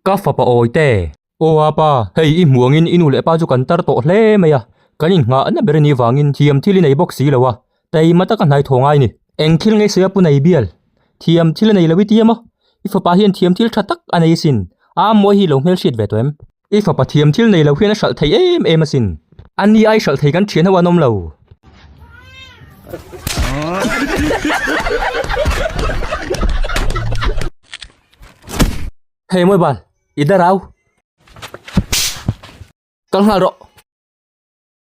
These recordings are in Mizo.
Ka fapa awi te. Aw a pa, hei i hmuangin i nu leh pa chu kan tar tawh hle mai a, kan inngah na ber a nih vangin thiam thil i nei bawk si lo a, taima taka hnai thaw ngai ni. Eng thil ngai seh a pu nei bial, thiam thil a nei lo i tiam a, i fapa hian thiam thil tha tak a nei sin, aa mawi hi i lo hmel hriat ve tawh em? I fapa thiam thil nei lo hian a hralh thei em em asin. Ani ai hralh thei kan thian ho an awm lo. Hei mawi bal, i da rau. Kal nghal rawh.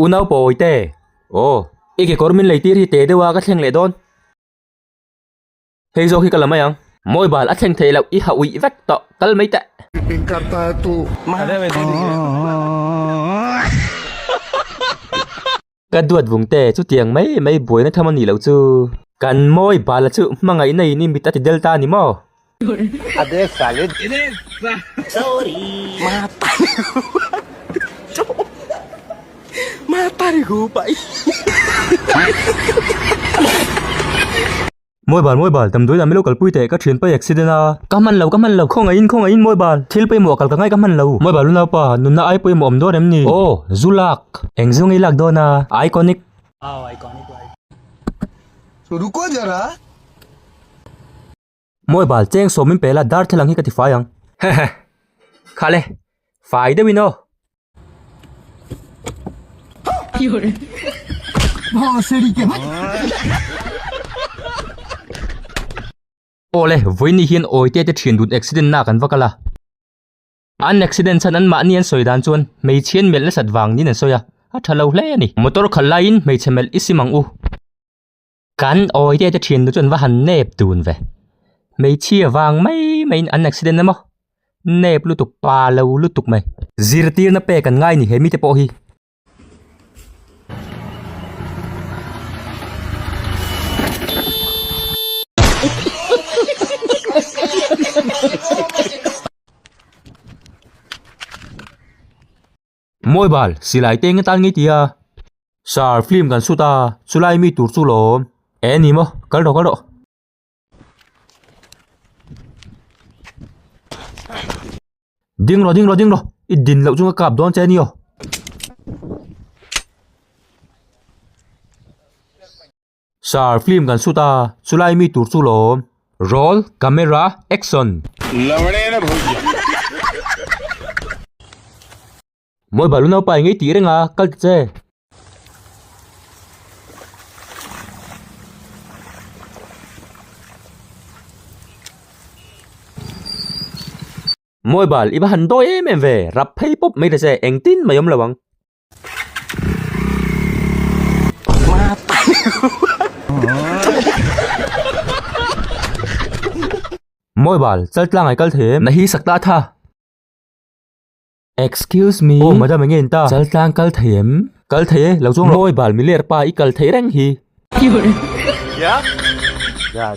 U Naupawi te, Aw, i kekawr min lei tir hi te deuha ka thleng leh dawn. Hei zawk hi ka la mai ang. Mobile a thleng theih loh, i hah uih vek tawh, kal mai teh. Min kar ta a tu. Ka duat vung te, chutiang mai mai buaina tham a nih loh chu. Kan mobile-a chu hmangaihna in i mit a ti del ta a ni maw? Mawibal mawibal damdawi dan milo kalpui teh ka thian paih accident a. Ka hman lo ka hman lo khawngaih in khawngaih in mawibal thil pawimawh a kal ka ngai ka hman lo. Mawibal lu naupa nunna ai pawimawh awm dawn em ni? Aw zu lak eng zu ngei lak dawn a iconic. Aw iconic iconic. Mawi bal, cheng sawm min pela darthlalang hi ka ti fai ang. Hehe, khale, fai deuh in aw. Aw le, vawiin ni hian awite te thian dun accident na kan va kal a. An accident chhan an mahni an sawi dan chuan hmeichhian melh nasat vang niin an sawi a, a tha lo hle a ni. Motor khalh laiin hmeichhe melh i sim ang u. Kan awi te te thin te chuan va han nep dun ve. Hmeichhia vang mai maiin an accident emaw nep lutuk pa lo lutuk mai. Zirtirna pek an ngai a nih he mite pawh hi. Mawi bal, silai te enge tan ngei tia? Sir, film kan shoot a, chulai mi tur chu lawm. Eh ni maw, kal rawh kal rawh. Ding rawh ding rawh ding rawh, i din loh chunga kap dawn che ni aw. Sir, film kan shoot a, chulai mi tur chu lawm. Roll camera action. Mawi balu naupa i ngei tih reng a, kal ta che. Mawi bal, i va han dawi em em ve, rap phei pawp mai ta che, engtin mai awm lo ang. Mawi bal, chal tlang ai kal thei em? Na hi sak ta a tha. Excuse me. Aw madam enge in ta? Chal tlang kal thei em? Kal thei e, lo chuang rawh. Mawi bal mi ler pa i kal thei reng hi. Chal.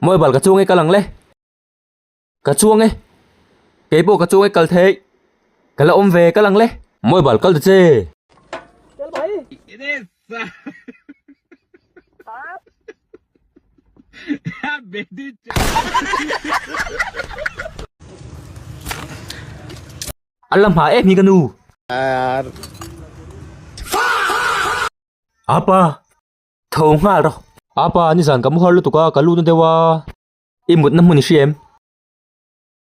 Mawi bal ka chuang e kal ang le. Ka chuang e. Kei pawh ka chuang e kal theih. Ka la awm ve kal ang le. Mawi bal kal ta che. Kel mai. I ne sa. Ha be di che. An la hma em hi ka nu. Ar. Apa. Tho nghal rawh. Apa ni zan ka mu har lutuk a, ka lut na deuh a. I mutna hmun i hria em?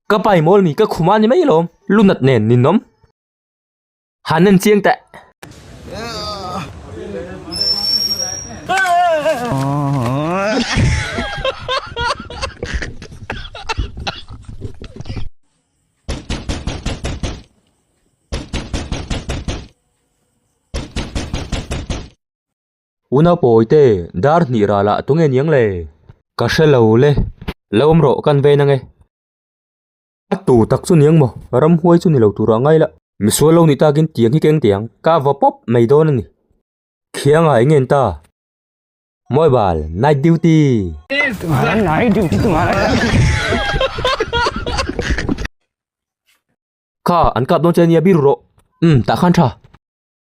Ka pa i mawl mi ka khum a ni mai lawm. Lunat nen ni nawm. Han nen chiang teh. Una pawi te, dar hnih ral ah tunge niang le? Ka hre lo le. Lo awm rawh, kan vei nange. A tu tak chu niang maw? Ramhuai chu ni lo tur ah ngai la. Misual lo nih tak in tiang hi ka eng teh ang. Ka va pawp mai dawn a ni. Khiang ah i ngen ta. Mawi bal, night duty. Tunga night duty tunga Kha, an kap dawn che a nia, biru rawh. Umm, tah khan tha.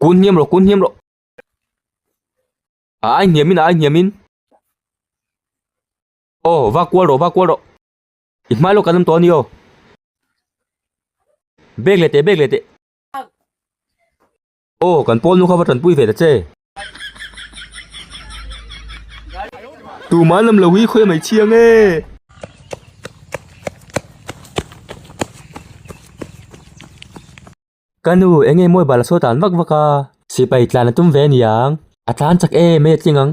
Kun hniam rawh, kun hniam rawh. A ai hniam in, a ai hniam in. Aw, va kual rawh, va kual rawh. I hmai lawk kan awm tawh a ni aw. Bag leh teh, bag leh teh. Aw, kan pawl nu kha va tanpui ve ta che. Tumah an lam lo hi, khawi a mai chiang e. Ka nu, eng nge mawi bal a sawi tan vak vak a. Sipai tlan a tum ve a ni ang. A tlan chak em mai a tling ang.